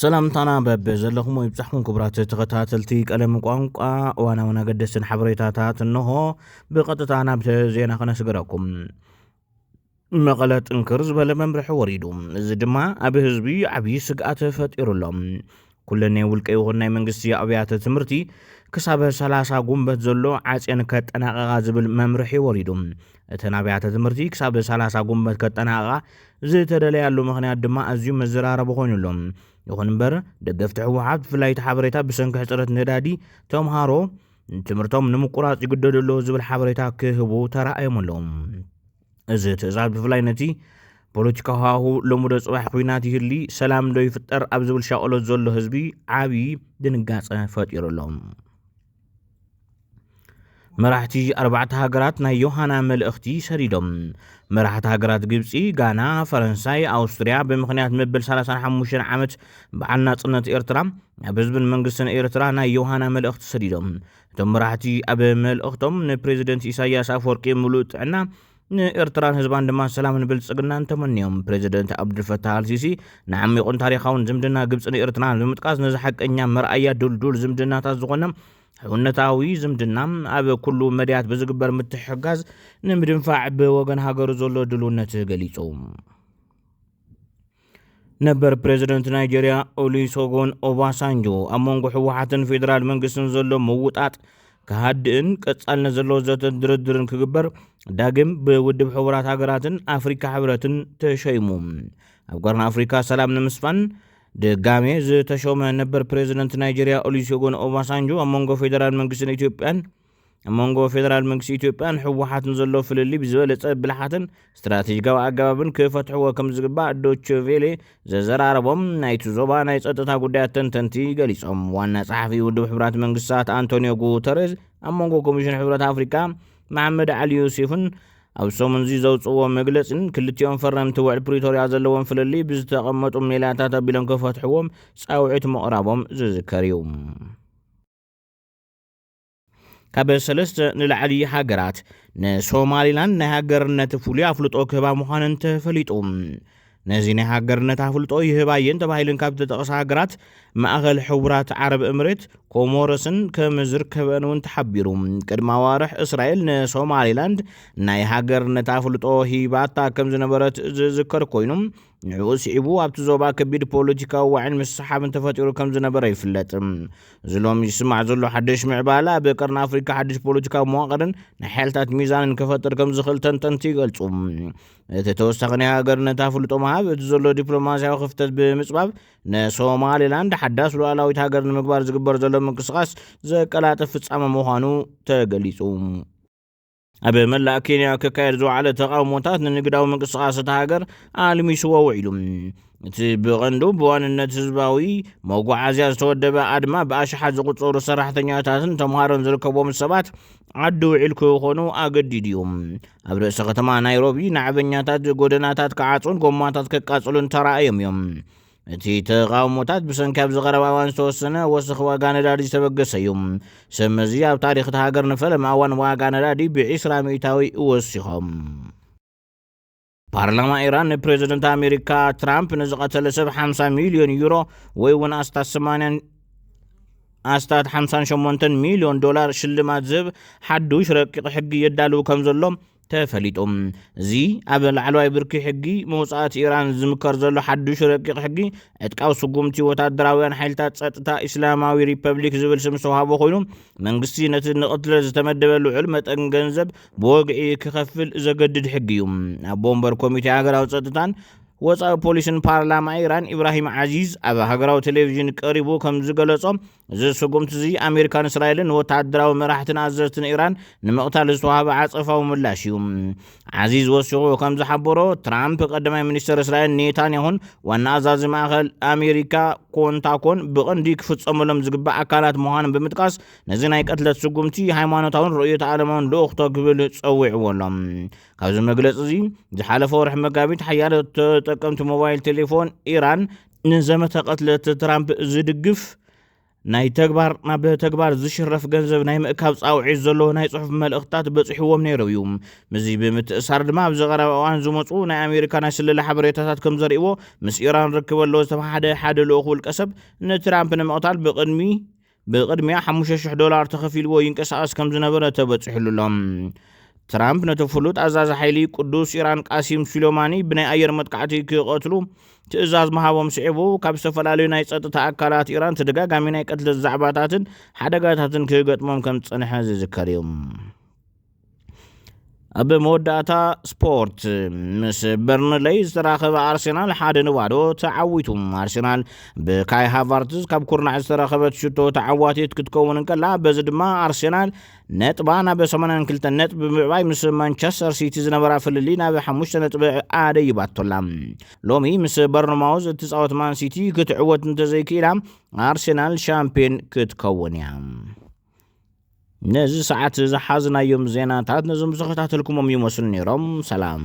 ሰላምታና በብ ዘለኹሞ ይብጻሕኩም ክቡራት ተኸታተልቲ ቀለም ቋንቋ እዋናውን ኣገደስትን ሓበሬታታት እንሆ ብቐጥታ ናብቲ ዜና ክነስገረኩም መቐለ ጥንክር ዝበለ መምርሒ ወሪዱ እዚ ድማ ኣብ ህዝቢ ዓብዪ ስግኣት ፈጢሩሎም ኩለን ናይ ውልቀ ይኹን ናይ መንግስቲ ኣብያተ ትምህርቲ ክሳብ 30 ጉንበት ዘሎ ዓፅን ከጠናቐቓ ዝብል መምርሒ ወሪዱ እተን ኣብያተ ትምህርቲ ክሳብ ሰላሳ ጉንበት ከጠናቕቓ ዝተደለያሉ ምኽንያት ድማ ኣዝዩ መዘራረቢ ኮይኑ ኣሎ። ይኹን እምበር ደገፍቲ ህወሓት ብፍላይ እቲ ሓበሬታ ብሰንኪ ሕፅረት ነዳዲ ተምሃሮ ትምህርቶም ንምቁራፅ ይግደዱ ኣለዉ ዝብል ሓበሬታ ክህቡ ተራእዮም ኣለዉ። እዚ ትእዛዝ ብፍላይ ነቲ ፖለቲካ ሃሁ ሎሙዶ ፅባሕ ኩናት ይህሊ ሰላም ዶ ይፍጠር ኣብ ዝብል ሻቕሎት ዘሎ ህዝቢ ዓብዪ ድንጋፀ ፈጢሩ ኣሎ። መራሕቲ ኣርባዕተ ሃገራት ናይ ዮሃና መልእኽቲ ሰዲዶም። መራሕቲ ሃገራት ግብፂ፣ ጋና፣ ፈረንሳይ፣ ኣውስትርያ ብምኽንያት መበል 35 ዓመት በዓል ናፅነት ኤርትራ ናብ ህዝብን መንግስትን ኤርትራ ናይ ዮሃና መልእኽቲ ሰዲዶም። እቶም መራሕቲ ኣብ መልእኽቶም ንፕሬዚደንት ኢሳያስ ኣፈወርቂ ምሉእ ጥዕና ንኤርትራን ህዝባን ድማ ሰላምን ብልጽግናን ተመንዮም። ፕሬዚደንት ኣብዱልፈታህ ኣልሲሲ ንዓሚቝን ታሪኻውን ዝምድና ግብጽን ኤርትራን ብምጥቃስ ነዚ ሓቀኛ መርኣያ ድልዱል ዝምድናታት ዝኾነ ሕውነታዊ ዝምድና ኣብ ኩሉ መድያት ብዝግበር ምትሕጋዝ ንምድንፋዕ ብወገን ሃገሩ ዘሎ ድልውነት ገሊጹ። ነበር ፕሬዚደንት ናይጀርያ ኦሉሶጎን ኦባሳንጆ ኣብ መንጎ ህወሓትን ፌዴራል መንግስትን ዘሎ ምውጣጥ ክሃድእን ቀጻልነት ዘለዎ ዘተን ድርድርን ክግበር ዳግም ብውድብ ሕቡራት ሃገራትን ኣፍሪካ ሕብረትን ተሸይሙ ኣብ ቀርኒ ኣፍሪካ ሰላም ንምስፋን ድጋሜ ዝተሾመ ነበር ፕሬዚደንት ናይጀርያ ኦሉሶጎን ኦባሳንጆ ኣብ መንጎ ፌዴራል መንግስትን ኢትዮጵያን ኣብ መንጎ ፌደራል መንግስቲ ኢትዮጵያን ህወሓትን ዘሎ ፍልልይ ብዝበለፀ ብልሓትን ስትራቴጂካዊ ኣገባብን ክፈትሕዎ ከም ዝግባእ ዶቼ ቬሌ ዘዘራረቦም ናይቲ ዞባ ናይ ጸጥታ ጉዳያት ተንተንቲ ገሊጾም። ዋና ጸሓፊ ውድብ ሕብራት መንግስታት ኣንቶኒዮ ጉተሬዝ ኣብ መንጎ ኮሚሽን ሕብረት ኣፍሪካ መሓመድ ዓሊ ዩሴፍን ኣብ ሰሙን እዚ ዘውፅዎ መግለፂን ክልቲኦም ፈረምቲ ውዕል ፕሪቶርያ ዘለዎም ፍልልይ ብዝተቐመጡ ሜላታት ኣቢሎም ክፈትሕዎም ፃውዒት ምቕራቦም ዝዝከር እዩ። ካብ ሰለስተ ንላዕሊ ሃገራት ንሶማሊላንድ ናይ ሃገርነት ፍሉይ ኣፍልጦ ክህባ ምዃነን ተፈሊጡ ነዚ ናይ ሃገርነት ኣፍልጦ ይህባ እየን ተባሂለን ካብ ዝተጠቕሳ ሃገራት ማእኸል ሕቡራት ዓረብ እምሬት ኮሞረስን ከም ዝርከበን እውን ተሓቢሩ ቅድሚ ኣዋርሕ እስራኤል ንሶማሊላንድ ናይ ሃገርነት ኣፍልጦ ሂባታ ከም ዝነበረት ዝዝከር ኮይኑ ንዕኡ ስዒቡ ኣብቲ ዞባ ከቢድ ፖለቲካዊ ዋዒን ምስሓብን ተፈጢሩ ከም ዝነበረ ይፍለጥ። እዚ ሎሚ ዝስማዕ ዘሎ ሓደሽ ምዕባለ ኣብ ቀርኒ ኣፍሪካ ሓደሽ ፖለቲካዊ መዋቕርን ናይ ሓይልታት ሚዛንን ከፈጥር ከም ዝኽእል ተንተንቲ ይገልጹ። እቲ ተወሳኺ ናይ ሃገርነት ኣፍልጦ ምሃብ እቲ ዘሎ ዲፕሎማስያዊ ክፍተት ብምጽባብ ንሶማሌላንድ ሓዳስ ሉዓላዊት ሃገር ንምግባር ዝግበር ዘሎ ምንቅስቓስ ዘቀላጥፍ ፍጻመ ምዃኑ ተገሊጹ። ኣብ መላእ ኬንያ ክካየድ ዝወዓለ ተቓውሞታት ንንግዳዊ ምንቅስቓስ እታ ሃገር ኣልሚስዎ ውዒሉ እቲ ብቐንዱ ብዋንነት ህዝባዊ መጓዓዝያ ዝተወደበ ኣድማ ብኣሽሓት ዝቑፀሩ ሰራሕተኛታትን ተምሃሮን ዝርከቦም ሰባት ዓዲ ውዒል ክኾኑ ኣገዲዱ እዩ ኣብ ርእሰ ከተማ ናይሮቢ ናዕበኛታት ጎደናታት ክዓፁን ጎማታት ከቃፅሉን ተራእዮም እዮም እቲ ተቓውሞታት ብሰንኪ ኣብ ዝቐረባ እዋን ዝተወሰነ ወሰኺ ዋጋ ነዳዲ ዝተበገሰ እዩ ሰብ መዚ ኣብ ታሪኽ እቲ ሃገር ንፈለማ እዋን ዋጋ ነዳዲ ብዒስራ ሚእታዊ ወሲኾም ፓርላማ ኢራን ንፕሬዚደንት ኣሜሪካ ትራምፕ ንዝቐተለ ሰብ 50 ሚልዮን ዩሮ ወይ እውን ኣስታት 80 ኣስታት 58 ሚልዮን ዶላር ሽልማት ዝህብ ሓዱሽ ረቂቕ ሕጊ የዳልው ከም ዘሎ ተፈሊጡ። እዚ ኣብ ላዕለዋይ ብርኪ ሕጊ መውጻእቲ ኢራን ዝምከር ዘሎ ሓዱሽ ረቂቕ ሕጊ፣ ዕጥቃዊ ስጉምቲ ወታደራውያን ሓይልታት ጸጥታ ኢስላማዊ ሪፐብሊክ ዝብል ስም ዝተዋህቦ ኮይኑ፣ መንግስቲ ነቲ ንቕትለት ዝተመደበ ልዑል መጠን ገንዘብ ብወግዒ ክኸፍል ዘገድድ ሕጊ እዩ። ኣቦ ወንበር ኮሚቴ ሃገራዊ ጸጥታን ወጻኢ ፖሊስን ፓርላማ ኢራን ኢብራሂም ዓዚዝ ኣብ ሃገራዊ ቴሌቪዥን ቀሪቡ ከም ዝገለጾ፣ እዚ ስጉምቲ እዚ ኣሜሪካን እስራኤልን ንወተሃደራዊ መራሕትን ኣዘዝትን ኢራን ንምቕታል ዝተዋህበ ዓጸፋዊ ምላሽ እዩ። ዓዚዝ ወሲኹ ከም ዝሓበሮ ትራምፕ ቀዳማይ ሚኒስተር እስራኤል ኔታንያሁን ዋና ኣዛዚ ማእከል ኣሜሪካ ኮንታኮን ብቐንዲ ክፍጸመሎም ዝግባእ ኣካላት ምዃኖም ብምጥቃስ ነዚ ናይ ቅትለት ስጉምቲ ሃይማኖታውን ርእዮተ ዓለማውን ልኡኽቶ ክብል ጸዊዕዎ ኣሎ ካብዚ መግለፂ እዚ ዝሓለፈ ወርሒ መጋቢት ሓያለ ተጠቀምቲ ሞባይል ቴሌፎን ኢራን ንዘመተ ቅትለት ትራምፕ ዝድግፍ ናይ ተግባር ናብ ተግባር ዝሽረፍ ገንዘብ ናይ ምእካብ ጻውዒት ዘለዎ ናይ ጽሑፍ መልእኽትታት በጺሕዎም ነይሩ እዩ ምስዚ ብምትእሳር ድማ ኣብዚ ቀረባ እዋን ዝመፁ ናይ ኣሜሪካ ናይ ስለላ ሓበሬታታት ከም ዘርእዎ ምስ ኢራን ርክብ ኣለዎ ዝተባሓደ ሓደ ልኡኽ ውልቀሰብ ንትራምፕ ንምቕታል ብቕድሚ ብቕድሚያ ሓሙሽተ ሽሕ ዶላር ተኸፊልዎ ይንቀሳቐስ ከም ዝነበረ ተበጺሑሉ ኣሎ። ትራምፕ ነቲ ፍሉጥ ኣዛዚ ሓይሊ ቅዱስ ኢራን ቃሲም ሱሌማኒ ብናይ ኣየር መጥቃዕቲ ክቐትሉ ትእዛዝ ምሃቦም ስዒቡ ካብ ዝተፈላለዩ ናይ ጸጥታ ኣካላት ኢራን ተደጋጋሚ ናይ ቅትለት ዛዕባታትን ሓደጋታትን ክገጥሞም ከም ዝጸንሐ ዝዝከር እዩ። ኣብ መወዳእታ ስፖርት ምስ በርንለይ ዝተራኸበ ኣርሴናል ሓደ ንባዶ ተዓዊቱ ኣርሴናል ብካይ ሃቫርትዝ ካብ ኩርናዕ ዝተረኸበት ሽቶ ተዓዋቲት ክትከውን እንከላ በዚ ድማ ኣርሴናል ነጥባ ናብ 82 ነጥቢ ብምዕባይ ምስ ማንቸስተር ሲቲ ዝነበራ ፍልሊ ናብ 5 ነጥቢ ኣደይባቶላ ሎሚ ምስ በርንማውዝ እትፃወት ማን ሲቲ ክትዕወት እንተዘይክኢላ ኣርሴናል ሻምፒዮን ክትከውን እያ ነዚ ሰዓት ዝሓዝናዮም ዜናታት ነዞም ዝተኸታተልኩሞም ይመስሉ ነይሮም። ሰላም።